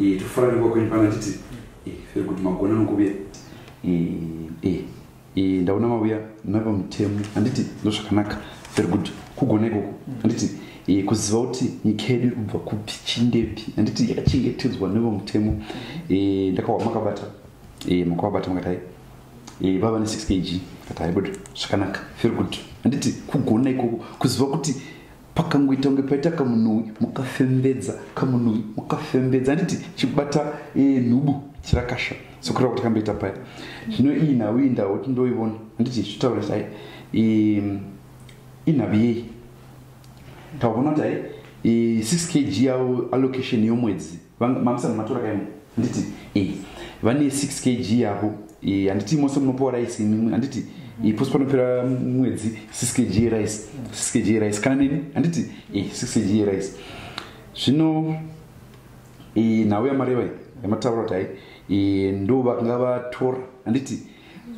Eh, tofara ndikwa kwenyu pana titi eh, feri kuti magona nokuvuya eh, ndaona mavuya nava mutemo handiti ndo zvakanaka feri kuti kugona ikoko handiti kuziva kuti nyika yedu iri kubva kupi chindepi handiti yakachengetedzwa neva mutemo ndakawa makabata makavabata makatai vava ne 6 kg katai but zvakanaka feri kuti handiti kugona ikoko kuziva kuti pakangoita kunge paita kamunhuwi mukafembedza kamunhuwi mukafembedza handiti chikubata eh, nhubu chirakasha sokureva kuti kamboita paya zvino iyi nhau iyi ndao kuti ndoivona handiti zvitaura kuti ai inhavi yei tavona kuti ai 6 kg yavo allocation yomwedzi Mamsana matora kaimo handiti e eh, vane 6 kg yavo eh, handiti mose munopiwa rice imimi handiti eh, pose panopera mwedzi 6 kg rice 6 kg rice kana neni handiti e 6 kg rice zvino nhau yamareva yamataura kuti hai ndo vakanga vatora handiti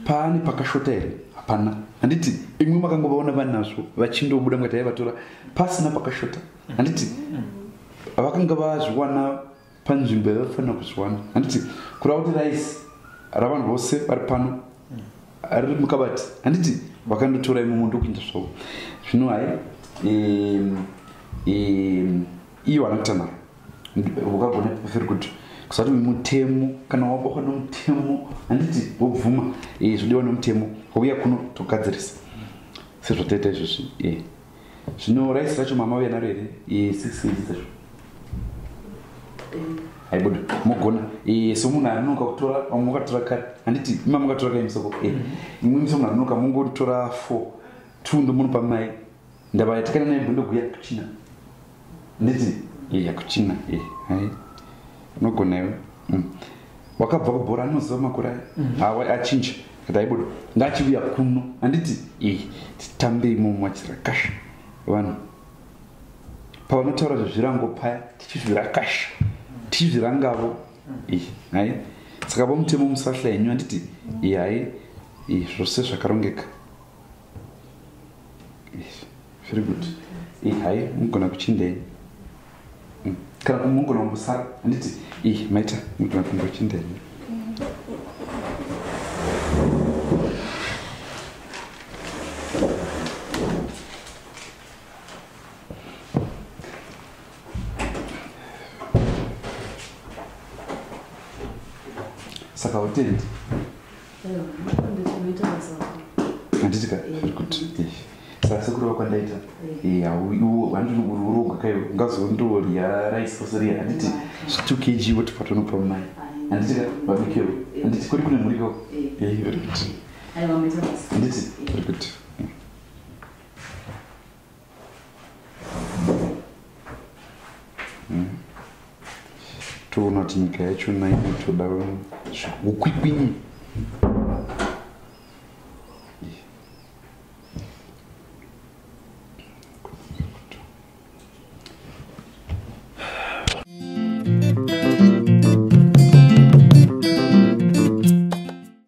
paani pakashota here hapana handiti imwe makangovaona vanazvo vachindobuda mukati yaivatora pasina pakashota handiti vakanga vazviwana panzvimbo yavafanira kuzviwana handiti kurava kuti raisi ravanhu vose vari pano riri mukabati handiti vakandotora imwe mundu kuinda zvavo zvino hai iyo vanakutanaro ukagona pafiri kuti kusati mutemo kana wabokwa nomutemo handiti wobvuma eh, zvodiwa nomutemo wauya kuno togadzirisa sezvataita izvozvi eh. zvino raisi racho mamauya naro here six kg dzacho haibuda mogona somunhu anonoka kutora vamwe makatora kare handiti ima makatora kai musoko imwe miso munhu anonoka mongotora four two ndomunopa mai ndavayatikana naye mbondoguya kuchina nditi iya kuchina iyi hai unogona iwe mm. wakabva kubhora anoziva makore aya mhm. hawa achinja kati aibuda ndaachiuya kuno handiti iyi titambei momo achirakasha vanhu pavanotaura zvezvirango paya tichizvirakasha tichizvirangavo mhm. iyi hai saka vomutemo musahla yenyu handiti iyi hai iyi zvose zvakarongeka zviri kuti ii hai mugona kuchindei mm. kana kumugona kumbosara handiti ii maita mugona kumbochindei saka utendi ndisika kuti sasekuru vakwandaita hauurogwa kayo ungazondorya rice sosiriya handiti two kg woti patonopa mai handitika vabikiro handiti kuri kune mhuriko handiti kuri kuti Hmm. toona kuti nyika yacho nainotoda ukwikwinyi